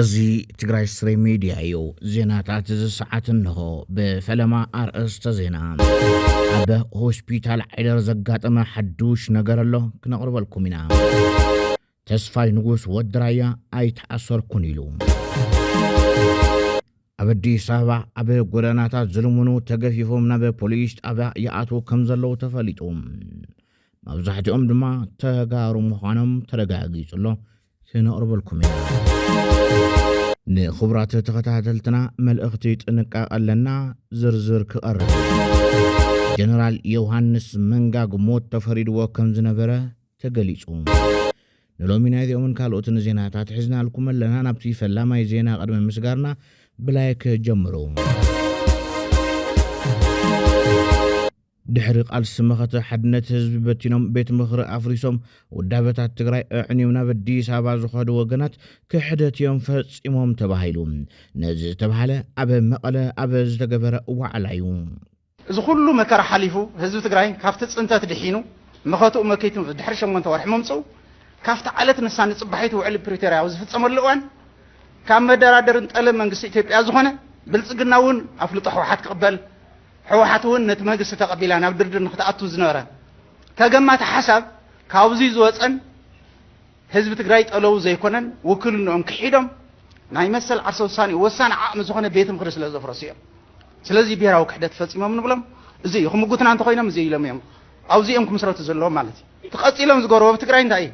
እዚ ትግራይ ስሪ ሚድያ እዩ። ዜናታት እዚ ሰዓት እንሆ ብፈለማ ኣርእስተ ዜና። ኣብ ሆስፒታል ዓይደር ዘጋጠመ ሓዱሽ ነገር ኣሎ ክነቕርበልኩም ኢና። ተስፋይ ንጉስ ወዲ ራያ ኣይተኣሰርኩን ኢሉ። ኣብ ኣዲስ ኣበባ ኣብ ጎደናታት ዝልምኑ ተገፊፎም ናብ ፖሊስ ጣብያ ይኣትዉ ከም ዘለዉ ተፈሊጡ። መብዛሕትኦም ድማ ተጋሩ ምዃኖም ተረጋጊጹ ኣሎ ክነቕርበልኩም ኢና። ንክቡራት ተኸታተልትና መልእኽቲ ጥንቃቐ ኣለና ዝርዝር ክቐርብ ጀነራል ዮውሃንስ መንጋግ ሞት ተፈሪድዎ ከም ዝነበረ ተገሊጹ። ንሎሚ ናይ እዚኦምን ካልኦትን ዜናታት ሒዝናልኩም ኣለና። ናብቲ ፈላማይ ዜና ቅድሚ ምስጋርና ብላይክ ጀምሩ። ድሕሪ ቃልሲ መኸተ ሓድነት ህዝቢ በቲኖም ቤት ምኽሪ ኣፍሪሶም ውዳበታት ትግራይ ኣዕንዮም ናብ ኣዲስ ኣበባ ዝኸዱ ወገናት ክሕደት እዮም ፈፂሞም ተባሂሉ ነዚ ዝተባሃለ ኣብ መቐለ ኣብ ዝተገበረ ዋዕላ እዩ። እዚ ኩሉ መከራ ሓሊፉ ህዝቢ ትግራይ ካብቲ ፅንተት ድሒኑ መኸትኡ መኪቱ ድሕሪ ሸሞንተ ወርሒ ምምፅኡ ካብቲ ዓለት ንሳ ንፅባሒቱ ውዕሊ ፕሪቶርያ ኣብ ዝፍፀመሉ እዋን ካብ መደራደሪ ንጠለብ መንግስቲ ኢትዮጵያ ዝኾነ ብልፅግና እውን ኣፍልጦ ሕወሓት ክቕበል ሕወሓት እውን ነቲ መንግስቲ ተቐቢላ ናብ ድርድር ንክትኣቱ ዝነበረ ተገማቲ ሓሳብ ካብዙይ ዝወፀን ህዝቢ ትግራይ ጠለዉ ዘይኮነን ውክልንኦም ክሒዶም ናይ መሰል ዓርሰ ውሳኔኡ ወሳኒ ዓቕሚ ዝኾነ ቤት ምኽሪ ስለ ዘፍረሱ እዮም። ስለዚ ብሄራዊ ክሕደት ፈፂሞም ንብሎም እዚ እዩ። ክምጉትና እንተኾይኖም እዚ ኢሎም እዮም ኣብዚ እዮም ክምስረቱ ዘለዎም ማለት እዩ። እቲ ቀፂሎም ዝገበርዎ ኣብ ትግራይ እንታይ እዩ?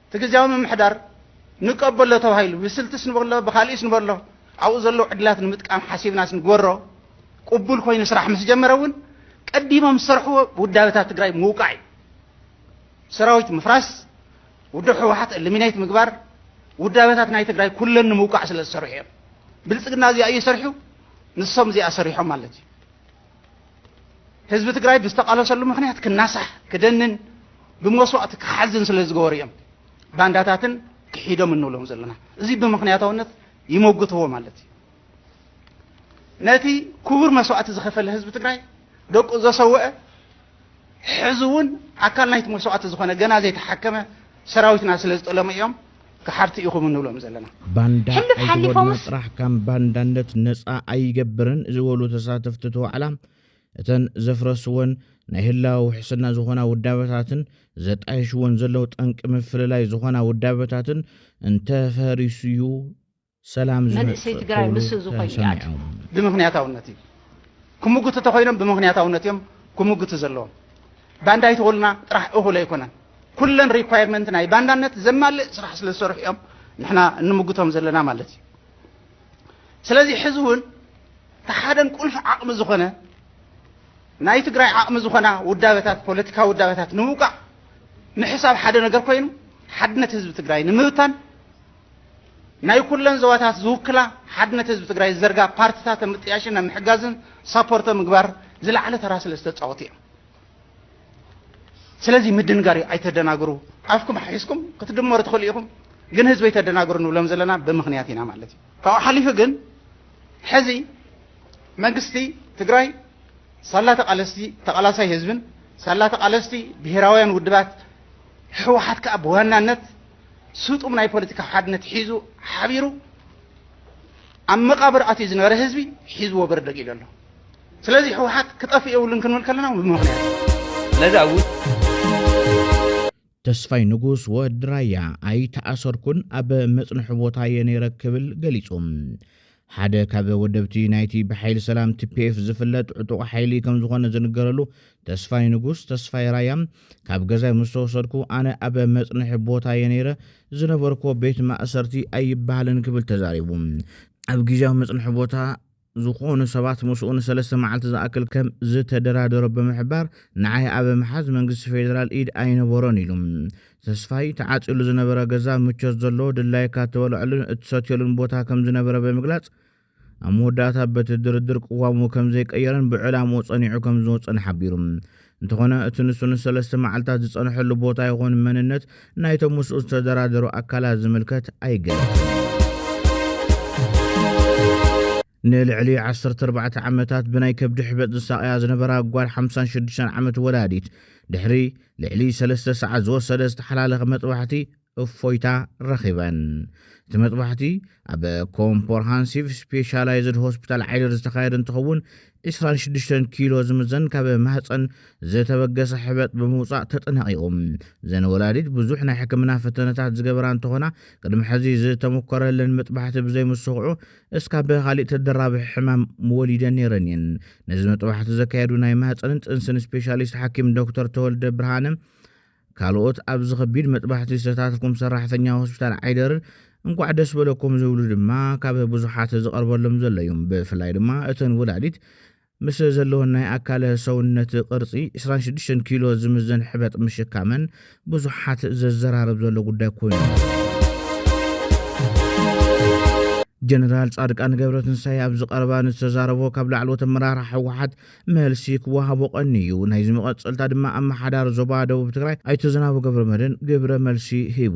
እቲ ግዜያዊ ምምሕዳር ንቀበሎ ተባሂሉ ብስልትስ ንበሎ ብካሊእስ ንበሎ ኣብኡ ዘለዉ ዕድላት ንምጥቃም ሓሲብናስ ንግበሮ ቅቡል ኮይኑ ስራሕ ምስ ጀመረ እውን ቀዲሞም ዝሰርሕዎ ውዳበታት ትግራይ ምውቃዕ እዩ። ሰራዊት ምፍራስ፣ ውድብ ህወሓት እልሚኔት ምግባር፣ ውዳበታት ናይ ትግራይ ኩለን ንምውቃዕ ስለ ዝሰርሑ እዮም። ብልፅግና እዚኣ እዩ ሰርሑ፣ ንሶም እዚኣ ሰሪሖም ማለት እዩ። ህዝቢ ትግራይ ብዝተቃለሰሉ ምክንያት ክናሳሕ ክደንን ብመስዋእቲ ክሓዝን ስለ ዝገበሩ እዮም ባንዳታትን ክሒዶም እንብሎም ዘለና እዚ ብምክንያታውነት ይመጉትዎ ማለት እዩ ነቲ ክቡር መስዋእቲ ዝኸፈለ ህዝቢ ትግራይ ደቁ ዘሰውአ ሕዚ'ውን ኣካል ናይቲ መስዋእቲ ዝኾነ ገና ዘይተሓከመ ሰራዊትና ስለ ዝጠለሙ እዮም ከሓድቲ ኢኹም እንብሎም ዘለና። ባንዳ ሕሉፍ ኣይትጎድና ሓሊፎምስ። ጥራሕ ካም ባንዳነት ነፃ ኣይገብርን ዝበሉ ተሳተፍቲ እቲ ዋዕላ፣ እተን ዘፍረስወን ናይ ህላወ ውሕስና ዝኾና ውዳበታትን ዘጣይሽወን ዘለዉ ጠንቂ ምፍልላይ ዝኾና ውዳበታትን እንተፈሪሱ'ዩ ሰላም መንእሰይ ዝመጽእ ትግራይ ክብሉ ምስ እዚ ኮይኑ ይኣቱ ተሰሚዖም። ብምኽንያታውነት እዩ ክምጉቱ እንተኾይኖም ብምኽንያታውነት እዮም ክምጉቱ ዘለዎም። ባንዳ ኣይትኹልና ጥራሕ እኹል ኣይኮነን። ኩለን ሪኳየርመንት ናይ ባንዳነት ዘማልእ ስራሕ ስለ ዝሰርሑ እዮም ንሕና እንምጉቶም ዘለና ማለት እዩ። ስለዚ ሕዚ እውን እቲ ሓደን ቁልፊ ዓቕሚ ዝኾነ ናይ ትግራይ ዓቕሚ ዝኾና ውዳበታት ፖለቲካዊ ውዳበታት ንምውቃዕ ምሕሳብ ሓደ ነገር ኮይኑ ሓድነት ህዝቢ ትግራይ ንምብታን ናይ ኩለን ዞባታት ዝውክላ ሓድነት ህዝቢ ትግራይ ዝዘርጋ ፓርትታት ኣብ ምጥያሽን ኣብ ምሕጋዝን ሳፖርት ኣብ ምግባር ዝለዓለ ተራ ስለ ዝተፃወቱ እዮም። ስለዚ ምድንጋር እዩ፣ ኣይተደናግሩ። ኣፍኩም ሓሒስኩም ክትድመሩ ትኽእሉ ኢኹም፣ ግን ህዝቢ ኣይተደናግሩ ንብሎም ዘለና ብምኽንያት ኢና ማለት እዩ። ካብኡ ሓሊፉ ግን ሕዚ መንግስቲ ትግራይ ሳላ ተቃለስቲ ተቃላሳይ ህዝብን ሳላ ተቃለስቲ ብሄራውያን ውድባት ህወሓት ከዓ ብዋናነት ስጡም ናይ ፖለቲካ ሓድነት ሒዙ ሓቢሩ ኣብ መቃብር ኣትዩ ዝነበረ ህዝቢ ሒዝዎ በርደግ ኢሉ ኣሎ ስለዚ ህወሓት ክጠፍእ የብሉን ክንብል ከለና ብምክንያት ስለዚ ኣብ ተስፋይ ንጉስ ወዲ ራያ ኣይተኣሰርኩን ኣብ መጽንሒ ቦታ እየ ነይረ ክብል ገሊጹ። ሓደ ካብ ወደብቲ ናይቲ ብሓይሊ ሰላም ቲፒኤፍ ዝፍለጥ ዕጡቕ ሓይሊ ከም ዝኾነ ዝንገረሉ ተስፋይ ንጉስ ተስፋይ ራያ ካብ ገዛይ ምስ ተወሰድኩ ኣነ ኣብ መጽንሒ ቦታ እየ ነይረ፣ ዝነበርኩዎ ቤት ማእሰርቲ ኣይበሃልን ክብል ተዛሪቡ። ኣብ ግዝያዊ መጽንሒ ቦታ ዝኾኑ ሰባት ምስኡ ንሰለስተ መዓልቲ ዝኣክል ከም ዝተደራደሮ ብምሕባር፣ ንዓይ ኣብ ምሓዝ መንግስቲ ፌደራል ኢድ ኣይነበሮን ኢሉ። ተስፋይ፣ እቲ ዓጽዩሉ ዝነበረ ገዛ ምቾት ዘለዎ፣ ድላይካ እትበልዐሉን እትሰትየሉን ቦታ ከም ዝነበረ ብምግላጽ፣ ኣብ መወዳእታ በቲ ድርድር ቅዋሙ ከም ዘይቀየረን ብዕላምኡ ጸኒዑ ከም ዝወጸን ሓቢሩ። እንተኾነ እቲ ንሱ ንሰለስተ መዓልታት ዝጸንሐሉ ቦታ ይኹን መንነት ናይቶም ምስኡ ዝተደራደሩ ኣካላት ዝምልከት ኣይገለጸን። ንልዕሊ ዓሰርተ ኣርባዕተ ዓመታት ብናይ ከብዲ ሕበጥ ዝሳቐያ ዝነበራ ጓል ሓምሳን ሽዱሽተን ዓመት ወላዲት ድሕሪ ልዕሊ ሰለስተ ሰዓት ዝወሰደ ዝተሓላለኸ መጥባሕቲ እፎይታ ረኺበን። እቲ መጥባሕቲ ኣብ ኮምፖርሃንሲቭ ስፔሻላይዝድ ሆስፒታል ዓይደር ዝተኻየደ እንትኸውን ዕስራን ሽዱሽተን ኪሎ ዝምዘን ካብ ማህፀን ዝተበገሰ ሕበጥ ብምውፃእ ተጠናቒቑ። እዘን ወላዲት ብዙሕ ናይ ሕክምና ፈተነታት ዝገበራ እንትኾና ቅድሚ ሕዚ ዝተሞከረለን መጥባሕቲ ብዘይምስኽዑ እስካብ ካሊእ ተደራቢ ሕማም ወሊደ ነይረን እየን። ነዚ መጥባሕቲ ዘካየዱ ናይ ማህፀንን ጥንስን ስፔሻሊስት ሓኪም ዶክተር ተወልደ ብርሃነ ካልኦት ኣብዚ ከቢድ መጥባሕቲ ዝተታትፍኩም ሰራሕተኛ ሆስፒታል ዓይደር እንኳዕ ደስ በለኩም ዝብሉ ድማ ካብ ብዙሓት ዝቐርበሎም ዘሎ እዩ። ብፍላይ ድማ እተን ወላዲት ምስ ዘለወን ናይ ኣካለ ሰውነት ቅርጺ ዕስራን ሽዱሽተን ኪሎ ዝምዘን ሕበጥ ምሽካመን ብዙሓት ዘዘራርብ ዘሎ ጉዳይ ኮይኑ። ጀነራል ጻድቃን ገብረትንሳኤ ኣብዚ ቀረባ ንዝተዛረቦ ካብ ላዕለዎት ኣመራርሓ ህወሓት መልሲ ክወሃቦ ቀንዩ ናይዚ መቐጸልታ ድማ ኣመሓዳሪ ዞባ ደቡብ ትግራይ ኣይተ ዝናቡ ገብረመድህን ግብረ መልሲ ሂቡ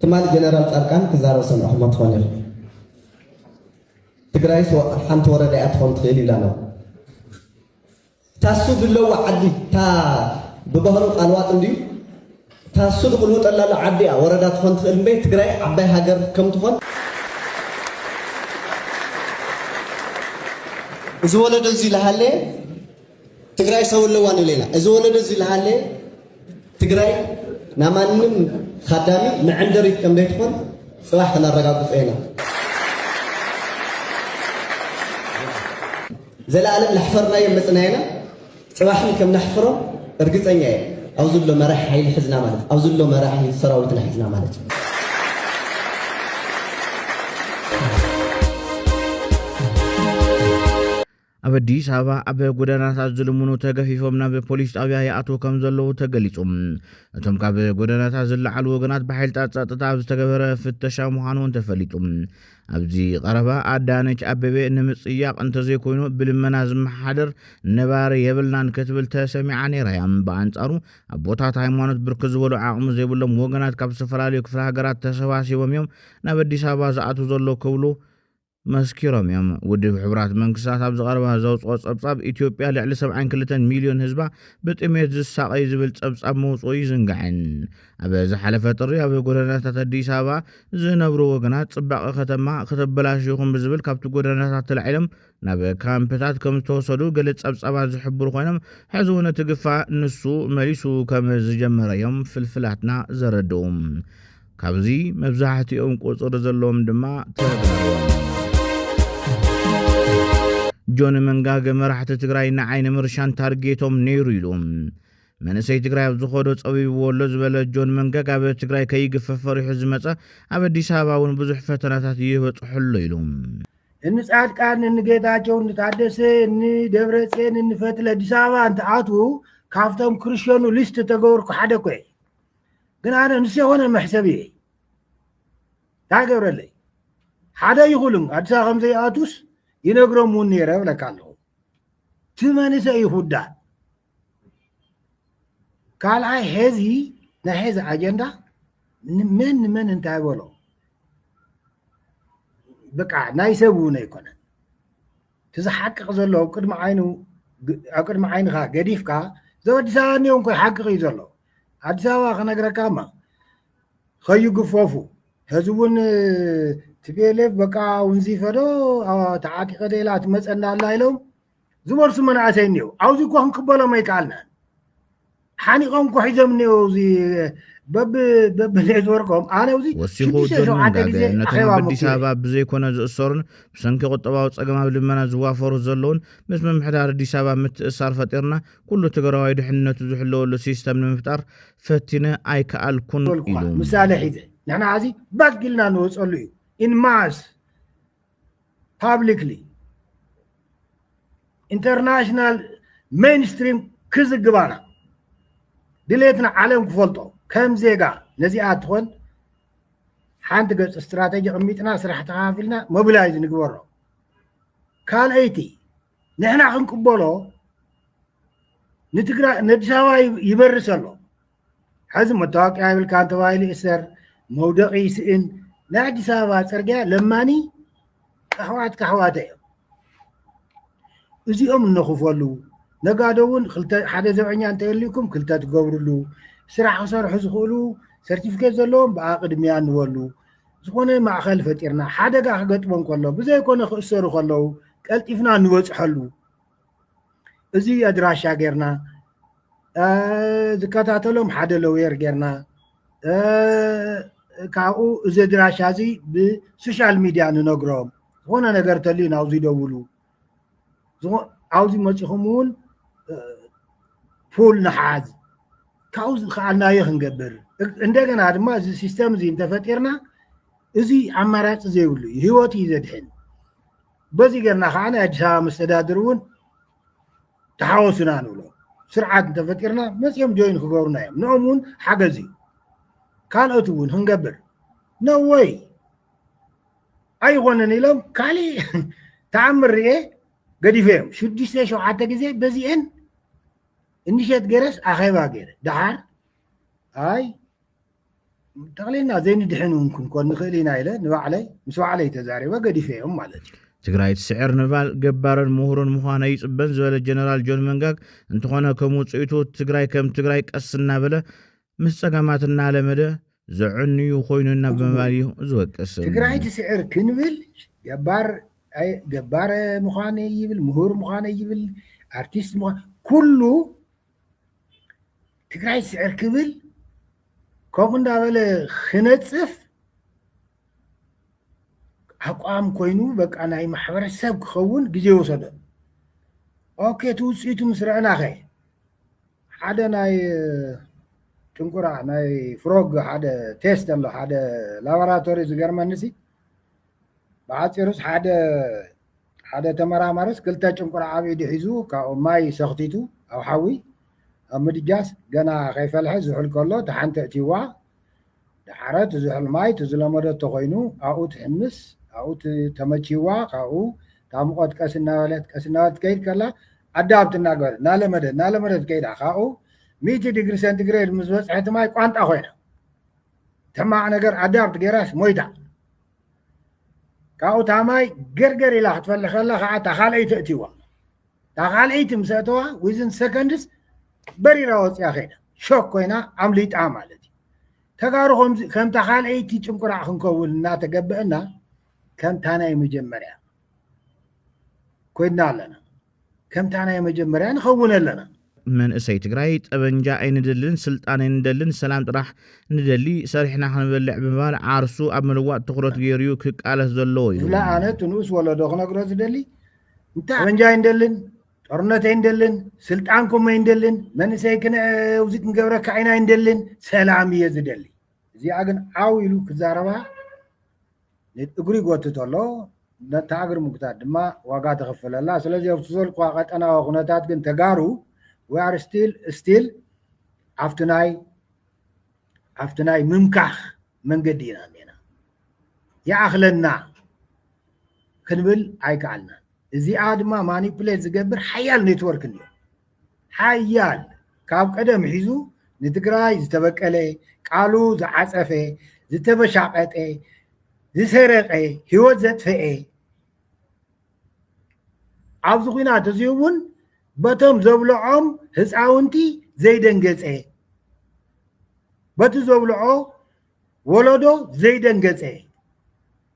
ትማል ጀነራል ፃድቃን ክዛረብ ሰሚዕኹሞ ትኾኑ ኢኹም። ትግራይስ ሓንቲ ወረዳ እያ ትኾን ትኽእል ኢሉ ኣሎ። ታሱ ድለዋ ዓዲ እታ ብባህሩ ቃልዋጥ እንድዩ ታሱ ዝቕልውጠላ ኣሎ ዓዲ እያ ወረዳ ትኾን ትኽእል እምበይ ትግራይ ዓባይ ሃገር ከም ትኾን እዚ ወለዶ እዚ ዝሃለየ ትግራይ ሰው ኣለዋ ንብል ኢና እዚ ወለዶ እዚ ዝሃለየ ትግራይ ናብ ማንም ካዳሚ መዐንደሪት ከም ዘይትኾን ፅባሕ ከነረጋግፆ ኢና ዘለኣለም ላሕፈርናዮም መፅና ኢና ፅባሕን ከም ነሕፍሮም እርግፀኛ እየ ኣብዚ ዘሎ መራሒ ሓይሊ ሕዝና ማለት ኣብዚ ዘሎ መራሒ ሰራዊትና ሕዝና ማለት እዩ ኣብ ኣዲስ ኣበባ ኣብ ጎደናታት ዝልምኑ ተገፊፎም ናብ ፖሊስ ጣብያ ይኣትዉ ከም ዘለዉ ተገሊፁ። እቶም ካብ ጎደናታት ዝለዓሉ ወገናት ብሓይልታት ጸጥታ ኣብ ዝተገበረ ፍተሻ ምዃኑ እውን ተፈሊጡ። ኣብዚ ቀረባ ኣዳነች ኣቤቤ ንምጽያቕ እንተዘይኮይኑ ብልመና ዝመሓደር ነባሪ የብልናን ክትብል ተሰሚዓ ነይራ እያ። ብኣንጻሩ ኣቦታት ሃይማኖት ብርክት ዝበሉ ዓቕሚ ዘይብሎም ወገናት ካብ ዝተፈላለዩ ክፍለ ሃገራት ተሰባሲቦም እዮም ናብ ኣዲስ ኣበባ ዝኣትዉ ዘሎ ክብሉ መስኪሮም እዮም። ውድብ ሕቡራት መንግስታት ኣብዚ ቀረባ ዘውጽኦ ጸብጻብ ኢትዮጵያ ልዕሊ ሰብዓን ክልተን ሚልዮን ህዝባ ብጥሜት ዝሳቐዩ ዝብል ጸብጻብ ምውጽኡ ይዝንጋዕን። ኣብ ዝሓለፈ ጥሪ ኣብ ጎደናታት ኣዲስ ኣበባ ዝነብሩ ወገናት ጽባቐ ከተማ ከተበላሽዩኹም ብዝብል ካብቲ ጎደናታት ተላዒሎም ናብ ካምፕታት ከም ዝተወሰዱ ገለ ጸብጻባት ዝሕብሩ ኮይኖም ሕዚ እውን እቲ ግፋ ንሱ መሊሱ ከም ዝጀመረ እዮም ፍልፍላትና ዘረድኡ። ካብዚ መብዛሕትኦም ቁጽሪ ዘለዎም ድማ ተበርዎም። ጆን መንጋገ መራሕቲ ትግራይ ንዓይ ንምርሻን ታርጌቶም ነይሩ ኢሉ። መንእሰይ ትግራይ ኣብ ዝኸዶ ጸቢብዎ ኣሎ ዝበለ ጆን መንገግ ኣብ ትግራይ ከይግፈፍ ፈሪሑ ዝመጸ ኣብ ኣዲስ ኣበባ እውን ብዙሕ ፈተናታት ይበጽሖ ኣሎ ኢሉ። እኒ ጻድቃን እኒ ጌታቸው እኒ ታደሰ እኒ ደብረጼን እኒ ፈትለ ኣዲስ ኣበባ እንትኣትዉ ካብቶም ክርሸኑ ሊስት ተገበርኩ ሓደ ኮ እየ ግን ኣነ ምስ የሆነ መሕሰብ እየ እንታይ ገብረለይ ሓደ ይኹልን ኣዲስ ኣበባ ከምዘይኣቱስ ይነግሮም እውን ነይረ ብለካ ኣለኹ እቲ መንእሰይ እዩ ክውዳእ ካልኣይ ሄዚ ናይ ሄዚ ኣጀንዳ ንመን ንመን እንታይ በሎ በቃ ናይ ሰብ እውን ኣይኮነን እቲ ዝሓቅቅ ዘሎ ኣብ ቅድሚ ዓይኑ ኣብ ቅድሚ ዓይንኻ ገዲፍካ እዞም ኣዲስ ኣበባ እኒኦም እኮ ይሓቅቅ እዩ ዘሎ ኣዲስ ኣበባ ክነግረካ እማ ከይግፈፉ ሕዚ እውን ትቤሌፍ በቃ ውንዚፈዶ ተዓጢቀ ደላ ትመፀና ኣላ ኢሎም ዝበርሱ መናእሰይ እኒው ኣብዚ እኮ ክንቅበሎም ኣይከኣልናን ሓኒቆም እኮ ሒዞም እኒኦ እዚ በብ በብ ኔትወርኮም ኣነ እዚ ወሲኹ ሽዱሽተ ጆርጅ ሸውዓተ መንጋገ ግዜ ነቶም ኣኼባ ኣብ ኣዲስ ምክየድ ኣበባ ብዘይኮነ ዝእሰሩን ብሰንኪ ቁጠባዊ ጸገም ኣብ ልመና ዝዋፈሩ ዘለውን ምስ ምምሕዳር ኣዲስ ኣበባ ምትእስሳር ፈጢርና ኩሉ ትግራዋይ ድሕንነቱ ዝሕለወሉ ሲስተም ንምፍጣር ፈቲነ ኣይከኣልኩን ዝበልኩኻ ኢሉ። ምሳሌ ሒዘ ንሕና ሕዚ ባክ ኢልና ንወፀሉ እዩ ኢንማስ ፓብሊክሊ ኢንተርናሽናል ሜንስትሪም ክዝግባና ድሌትና ዓለም ክፈልጦ ከም ዜጋ ነዚኣ ትኾን ሓንቲ ገፅ ስትራተጂ ቅሚጥና ስራሕ ተኸፋፊልና ሞቢላይዝ ንግበሮ ካልኣይቲ ንሕና ክንቅበሎ ንትግራይ ነዲስ ኣበባ ይበርስ ኣሎ ሐዚ መታወቂያ የብልካን ተባሂሉ እሰር፣ መውደቂ ይስእን። ናይ ኣዲስ ኣበባ ፅርግያ ለማኒ ኣሕዋት ካሕዋተ እዮም እዚኦም እነኽፈሉ ነጋዶ እውን ሓደ ዘብዐኛ እንተልዩኩም ክልተ ትገብርሉ ስራሕ ክሰርሑ ዝኽእሉ ሰርቲፊኬት ዘለዎም ብኣ ቅድሚያ ንበሉ ዝኾነ ማእኸል ፈጢርና ሓደጋ ክገጥሞም ከሎ ብዘይኮነ ክእሰሩ ከለዉ ቀልጢፍና ንበፅሐሉ እዚ ኣድራሻ ጌርና ዝከታተሎም ሓደ ሎየር ጌርና ካብኡ እዚ ኣድራሻ እዚ ብሶሻል ሚድያ ንነግሮም ዝኾነ ነገር እንተልዩ ናብዚ ደውሉ ኣብዚ መፂኹም እውን ፑል ንሓዝ ካብኡ ዝኸኣልናዮ ክንገብር እንደገና ድማ እዚ ሲስተም እዚ እንተፈጢርና እዚ ኣማራፂ ዘይብሉ እዩ ሂወት እዩ ዘድሕን በዚ ጌርና ከዓ ናይ ኣዲስ ኣበባ መስተዳድር እውን ተሓወሱና ንብሎ ስርዓት እንተፈጢርና መፅኦም ጆይን ክገብሩና እዮም ንኦም እውን ሓገዝ እዩ ካልኦት እውን ክንገብር ነወይ ኣይኮነን ኢሎም ካሊእ ተኣምር ርኤ ገዲፈ እዮም ሽዱሽተ ሸውዓተ ግዜ በዚአን እንሸት ገይረስ ኣኼባ ገይረ ደሓር ኣይ ጠቕሊልና ዘይንድሕን እውን ክንኮን ንኽእል ኢና ኢለ ንባዕለይ ምስ ባዕለይ ተዛሪበ ገዲፈዮም ማለት እዩ ትግራይ ትስዕር ንባል ገባርን ምሁርን ምዃን ኣይፅበን ዝበለ ጀነራል ጆን መንጋግ እንተኾነ ከም ውፅኢቱ ትግራይ ከም ትግራይ ቀስ እናበለ ምስ ፀገማት እናለመደ ዘዕንዩ ኮይኑ እና ብምባል እዩ ዝወቅስ ትግራይ ትስዕር ክንብል ገባር ኣይ- ገባር ምዃን ይብል ምሁር ምዃን ይብል ኣርቲስት ምዃን ኩሉ ትግራይ ስዕር ክብል ከምኡ እንዳበለ ክነፅፍ ኣቋም ኮይኑ በቃ ናይ ማሕበረሰብ ክኸውን ግዜ ወሰደ ኦኬ እቲ ውፅኢቱ ምስ ረአና ኸ ሓደ ናይ ጥንቁራ ናይ ፍሮግ ሓደ ቴስት ኣሎ ሓደ ላቦራቶሪ ዝገርመኒ ሲ ብሓፂሩስ ሓደ ሓደ ተመራማሪስ ክልተ ጭንቁር ኣብ ኢዱ ሒዙ ካብኡ ማይ ሰኽቲቱ ኣብ ሓዊ ኣብ ምድጃስ ገና ከይፈልሐ ዝሑል ከሎ እታ ሓንቲ ኣእትይዋ ደሓረ እቲ ዝሑል ማይ እቲ ዝለመደቶ ኮይኑ ኣብኡ ትሕምስ ኣብኡ ተመችይዋ ካብኡ እታ ሙቐት ቀስ እናበለት ቀስ እናበለት ትከይድ ከላ ኣዳብት እናገበረት እናለመደት እናለመደት ከይዳ ካብኡ ሚእቲ ዲግሪ ሴንቲግሬድ ምስ በፅሐት ማይ ቋንጣ ኮይና ሕማቕ ነገር ኣዳብት ገይራስ ሞይታ ካብኡ እታ ማይ ገርገር ኢላ ክትፈልሕ ከላ ከዓ እታ ካልኣይቲ እትዋ እታ ካልኣይቲ ምስ ኣተዋ ዊዝን ሰከንድስ በሪራ ወፅያ ከይዳ ሾክ ኮይና ኣምሊጣ ማለት እዩ ተጋሩ ከምታ ካልኣይቲ ጭንቁራዕ ክንከውን እናተገበአና ከምታ ናይ መጀመርያ ኮይና ኣለና ከምታ ናይ መጀመርያ ንኸውን ኣለና። መንእሰይ ትግራይ ጠበንጃ ኣይንደልን ስልጣን ኣይንደልን ሰላም ጥራሕ ንደሊ ሰሪሕና ክንበልዕ ብምባል ዓርሱ ኣብ ምልዋጥ ትኹረት ገይሩ እዩ ክቃለስ ዘለዎ እዩ ዝብላ ኣነ እቲ ንኡስ ወለዶ ክነግሮ ዝደሊ እንታይ ጠበንጃ ኣይንደልን ጦርነት ኣይንደልን ስልጣንኩም ኣይንደልን መንእሰይ ክንእዚ ክንገብረካ ዓይና ኣይንደልን ሰላም እየ ዝደሊ እዚኣ ግን ዓው ኢሉ ክዛረባ እግሪ ይጎትት ኣሎ፣ ነታ እግሪ ምጉታት ድማ ዋጋ ተኽፍል ኣላ። ስለዚ ኣብቲ ዘልኩኻ ቀጠናዊ ኩነታት ግን ተጋሩ we are still still ኣብቲ ናይ ኣብቲ ናይ ምምካኽ መንገዲ ኢና እኔና ይኣኽለና ክንብል ኣይከኣልናን። እዚኣ ድማ ማኒፕሌት ዝገብር ሓያል ኔትወርክ እኒኦ። ሓያል ካብ ቀደም ሒዙ ንትግራይ ዝተበቀለ ቃሉ ዝዓፀፈ ዝተበሻቀጠ ዝሰረቀ ሂወት ዘጥፈኤ ኣብዚ ኩናት እዚ እውን በቶም ዘብልዖም ህፃውንቲ ዘይደንገፀ በቲ ዘብልዖ ወለዶ ዘይደንገፀ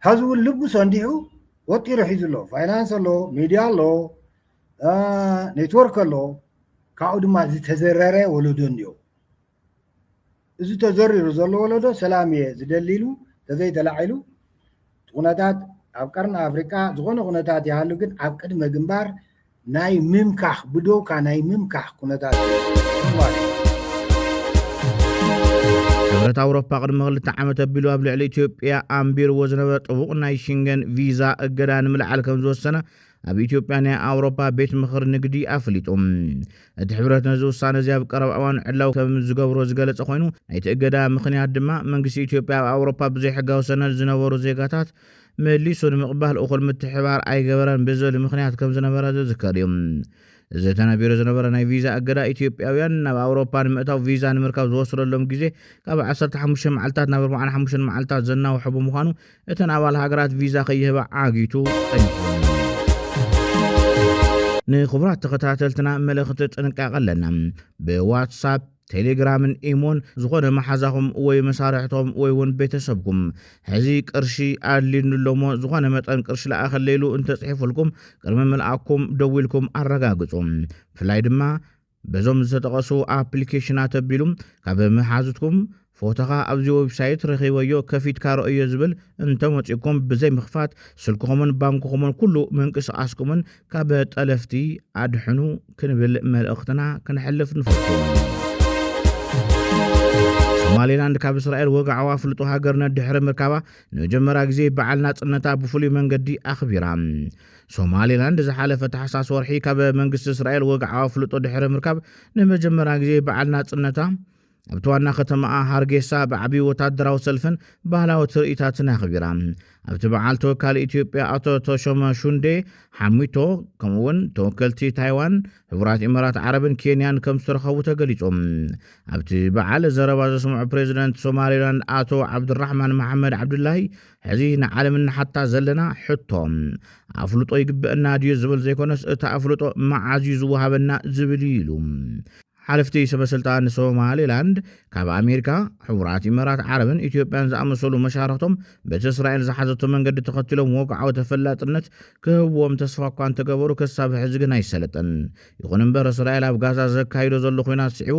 ሀዚ እውን ልቡ ሰንዲዑ ወጢሩ ሒዙ ኣሎ ፋይናንስ ኣሎ ሚድያ ኣሎ ኔትወርክ ኣሎ ካብኡ ድማ ዝተዘረረ ወለዶ እኒኦ እዚ ተዘሪሩ ዘሎ ወለዶ ሰላም እየ ዝደሊ ኢሉ ተዘይተላዒሉ ኩነታት ኣብ ቀርኒ ኣፍሪቃ ዝኾነ ኩነታት ይሃሉ ግን ኣብ ቅድመ ግንባር ናይ ምምካኽ ብዶውካ ናይ ምምካኽ ኩነታት ሕብረት ኣውሮፓ ቅድሚ ክልተ ዓመት ኣቢሉ ኣብ ልዕሊ ኢትዮጵያ ኣንቢርዎ ዝነበረ ጥቡቕ ናይ ሽንገን ቪዛ እገዳ ንምልዓል ከም ዝወሰነ ኣብ ኢትዮጵያ ናይ ኣውሮፓ ቤት ምኽሪ ንግዲ ኣፍሊጡ። እቲ ሕብረት ነዚ ውሳነ እዚ ኣብ ቀረባ እዋን ዕላዊ ከም ዝገብሮ ዝገለጸ ኮይኑ፣ ናይቲ እገዳ ምኽንያት ድማ መንግስቲ ኢትዮጵያ ኣብ ኣውሮፓ ብዘይሕጋዊ ሰነድ ዝነበሩ ዜጋታት መሊሱ ንምቕባል እኹል ምትሕብባር ኣይገበረን ብዝብል ምኽንያት ከም ዝነበረ ዝዝከር እዩ። እዚ ተነቢሩ ዝነበረ ናይ ቪዛ እገዳ ኢትዮጵያውያን ናብ ኣውሮፓ ንምእታው ቪዛ ንምርካብ ዝወስደሎም ግዜ ካብ ዓሰርተ ሓሙሽተ መዓልታት ናብ ኣርብዓን ሓሙሽተን መዓልታት ዘናውሐ ብምዃኑ እተን ኣባል ሃገራት ቪዛ ከይህባ ዓጊቱ ጸኒሑወን እዩ። ንክቡራት ተኸታተልትና መልእኽቲ ጥንቃቐ ኣለና። ብዋትሳፕ ቴሌግራምን ኢሞን ዝኾነ መሓዛኹም ወይ መሳርሕቶም ወይ እውን ቤተሰብኩም ሕዚ ቅርሺ ኣድልዩኒ ኣሎሞ ዝኾነ መጠን ቅርሺ ለኣኸለይሉ እንተጽሒፉልኩም ቅድሚ ምልኣኩም ደዊልኩም ኣረጋግጹ። ብፍላይ ድማ በዞም ዝተጠቐሱ ኣፕሊኬሽናት ኣቢሉ ካብ መሓዙትኩም ፎቶኻ ኣብዚ ወብሳይት ረኺበዮ ከፊትካ ረኦዮ ዝብል እንተመጺኡኩም ብዘይ ምኽፋት ስልክኹምን ባንክኹምን ኩሉ ምንቅስቓስኩምን ካብ ጠለፍቲ ኣድሕኑ ክንብል መልእኽትና ክንሕልፍ ንፈቱ። ሶማሌላንድ ካብ እስራኤል ወግዓዋ ኣፍልጦ ሃገርነት ድሕሪ ምርካባ ንመጀመርያ ግዜ በዓል ናጽነታ ብፍሉይ መንገዲ ኣኽቢራ ሶማሊላንድ ዝሓለፈ ታሕሳስ ወርሒ ካብ መንግስቲ እስራኤል ወግዓዊ ኣፍልጦ ድሕሪ ምርካብ ንመጀመርያ ግዜ በዓል ናጽነታ ኣብቲ ዋና ከተማኣ ሃርጌሳ ብዓቢ ወታደራዊ ሰልፍን ባህላዊ ትርኢታትን ኣኽቢራ ኣብቲ በዓል ተወካሊ ኢትዮጵያ ኣቶ ተሾመ ሹንዴ ሓሚቶ ከምኡ እውን ተወከልቲ ታይዋን ሕቡራት ኢማራት ዓረብን ኬንያን ከም ዝተረኸቡ ተገሊጾም ኣብቲ በዓል ዘረባ ዘስምዑ ፕሬዚደንት ሶማሌላንድ ኣቶ ዓብዱራሕማን መሓመድ ዓብዱላይ ሕዚ ንዓለም እንሓታ ዘለና ሕቶ ኣፍልጦ ይግበአና ድዩ ዝብል ዘይኮነስ እቲ ኣፍልጦ መዓዝ እዩ ዝወሃበና ዝብል እዩ ኢሉ። ሓለፍቲ ሰበስልጣን ሶማሌላንድ ካብ ኣሜሪካ፣ ሕቡራት ኢመራት ዓረብን ኢትዮጵያን ዝኣመሰሉ መሻርኽቶም በቲ እስራኤል ዝሓዘቶ መንገዲ ተኸቲሎም ወግዓዊ ተፈላጥነት ክህብዎም ተስፋ እኳ እንተገበሩ ክሳብ ሕዚ ግን ኣይሰለጠን። ይኹን እምበር እስራኤል ኣብ ጋዛ ዘካይዶ ዘሎ ኹናት ስዒቡ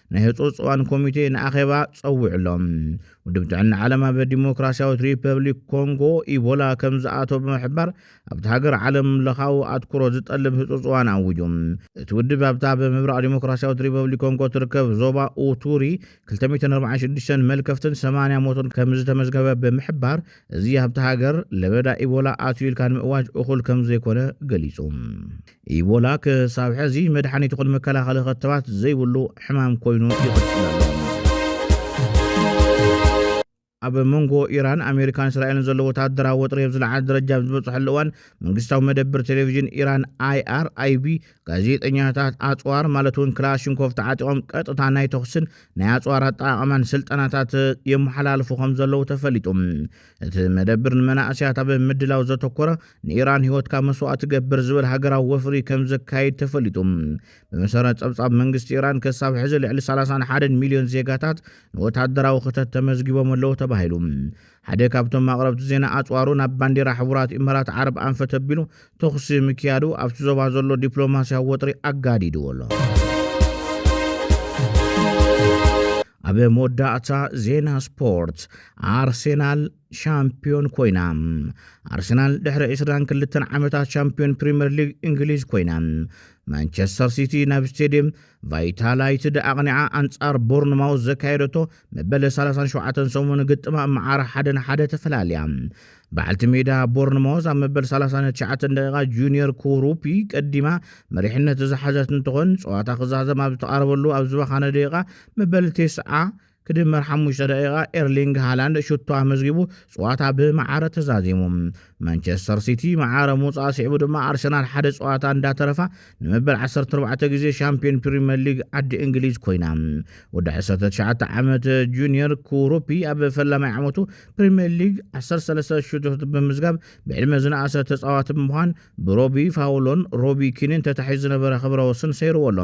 ናይ ህፁፅ እዋን ኮሚቴ ንኣኼባ ጸዊዑሎም። ውድብ ጥዕና ዓለም ኣብ ዲሞክራሲያዊት ሪፐብሊክ ኮንጎ ኢቦላ ከም ዝኣቶ ብምሕባር ኣብቲ ሃገር ዓለም ለኻዊ ኣትኩሮ ዝጠልብ ህፁፅ እዋን ኣዊጁ። እቲ ውድብ ኣብታ ኣብ ምብራቕ ዲሞክራሲያዊት ሪፐብሊክ ኮንጎ ትርከብ ዞባ ኡቱሪ 246 መልከፍትን 80 ሞትን ከም ዝተመዝገበ ብምሕባር እዚ ኣብቲ ሃገር ለበዳ ኢቦላ ኣትዩ ኢልካ ንምእዋጅ እኹል ከም ዘይኮነ ገሊጹ። ኢቦላ ክሳብ ሕዚ መድሓኒት ይኹን መከላኸሊ ኸተባት ዘይብሉ ሕማም ኮይኑ ይቕፅል ኣሎ። ኣብ መንጎ ኢራን ኣሜሪካን እስራኤልን ዘሎ ወታደራዊ ወጥሪ ኣብ ዝለዓለ ደረጃ ኣብ ዝበፅሐሉ እዋን መንግስታዊ መደብር ቴሌቭዥን ኢራን ኣይኣርኣይቢ ጋዜጠኛታት ኣፅዋር ማለት እውን ክላሽንኮቭ ተዓጢቖም ቀጥታ ናይ ተኹስን ናይ ኣፅዋር ኣጠቓቕማን ስልጠናታት የመሓላልፉ ከም ዘለዉ ተፈሊጡ እቲ መደብር ንመናእስያት ኣብ ምድላው ዘተኮረ ንኢራን ህይወትካ መስዋእቲ ገብር ዝብል ሃገራዊ ወፍሪ ከም ዘካይድ ተፈሊጡ ብመሰረት ጸብጻብ መንግስቲ ኢራን ክሳብ ሕዚ ልዕሊ 31 ሚልዮን ዜጋታት ንወታደራዊ ክተት ተመዝጊቦም ኣለዉ ተባሂሉ ሓደ ካብቶም ኣቕረብቲ ዜና ኣጽዋሩ ናብ ባንዴራ ሕቡራት ኢመራት ዓረብ ኣንፈት ኣቢሉ ተኹሲ ምክያዱ ኣብቲ ዞባ ዘሎ ዲፕሎማስያዊ ወጥሪ ኣጋዲድዎ ኣሎ። ኣብ መወዳእታ ዜና ስፖርት ኣርሴናል ሻምፒዮን ኮይና ኣርሰናል ድሕሪ 22 ዓመታት ሻምፒዮን ፕሪምየር ሊግ እንግሊዝ ኮይና ማንቸስተር ሲቲ ናብ ስቴድየም ቫይታላይትድ ኣቕኒዓ ኣንጻር ቦርንማውዝ ዘካየደቶ መበል ሰላሳን ሸውዓተን ሰሙን ግጥማ መዓር ሓደ ንሓደ ተፈላልያ። በዓልቲ ሜዳ ቦርንሞዝ ኣብ መበል 39 ደቂቓ ጁኒየር ኩሩፒ ቀዲማ መሪሕነት ዝሓዘት እንትኾን ፀዋታ ክዛዘም ኣብ ዝተቓረበሉ ኣብ ዝበኻነ ደቂቓ መበል ቴስዓ ክድመር ሓሙሽተ ደቂቓ ኤርሊንግ ሃላንድ ሽቶ ኣመዝጊቡ ፀዋታ ብመዓረ ተዛዚሙ። ማንቸስተር ሲቲ መዓረ ምውጻእ ስዒቡ ድማ ኣርሰናል ሓደ ጸዋታ እንዳተረፋ ንመበል ዓሰርተ ኣርባዕተ ግዜ ሻምፕዮን ፕሪምየር ሊግ ዓዲ እንግሊዝ ኮይና። ወዲ ዓሰርተ ትሽዓተ ዓመት ጁንየር ኩሩፒ ኣብ ፈላማይ ዓመቱ ፕሪምየር ሊግ ዓሰርተ ሰለስተ ሽቶታት ብምዝጋብ ብዕድመ ዝነኣሰ ተጻዋቲ ብምዃን ብሮቢ ፋውሎን ሮቢ ኪንን ተታሒዙ ዝነበረ ክብረ ወስን ሰይርዎ ኣሎ።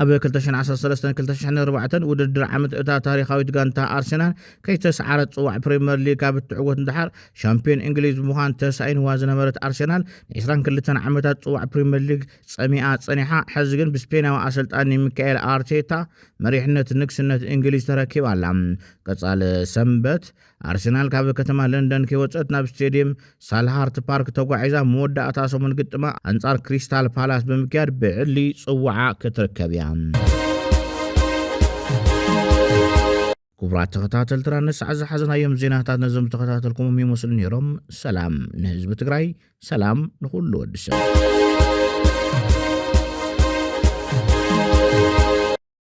ኣብ ክልተ ሽሕን ዓሰርተ ሰለስተን ክልተ ሽሕን ኣርባዕተን ውድድር ዓመት እታ ታሪኻዊት ጋንታ ኣርሰናል ከይተስዓረት ጽዋዕ ፕሪምየር ሊግ ካብ እትዕወት ንደሓር ሻምፕዮን እንግሊዝ ብምዃን ተሳኢንዋ ዝነበረት ኣርሴናል ንዒስራን ክልተን ዓመታት ጽዋዕ ፕሪምየር ሊግ ጸሚኣ ጸኒሓ ሕዚ ግን ብስፔናዊ ኣሰልጣኒ ሚካኤል ኣርቴታ መሪሕነት ንግስነት እንግሊዝ ተረኪባ ኣላ። ቀጻሊ ሰንበት ኣርሴናል ካብ ከተማ ለንደን ከይወጸት ናብ ስቴድየም ሳልሃርት ፓርክ ተጓዒዛ መወዳእታ ሰሙን ግጥማ ኣንጻር ክሪስታል ፓላስ ብምክያድ ብዕሊ ጽዋዓ ክትርከብ እያ። ክቡራት ተኸታተልትና ንሳዕ ዝሓዝናዮም ዜናታት ነዞም ዝተኸታተልኩሞም ይመስሉ ነይሮም። ሰላም ንህዝቢ ትግራይ፣ ሰላም ንኹሉ ወዲ ሰብ።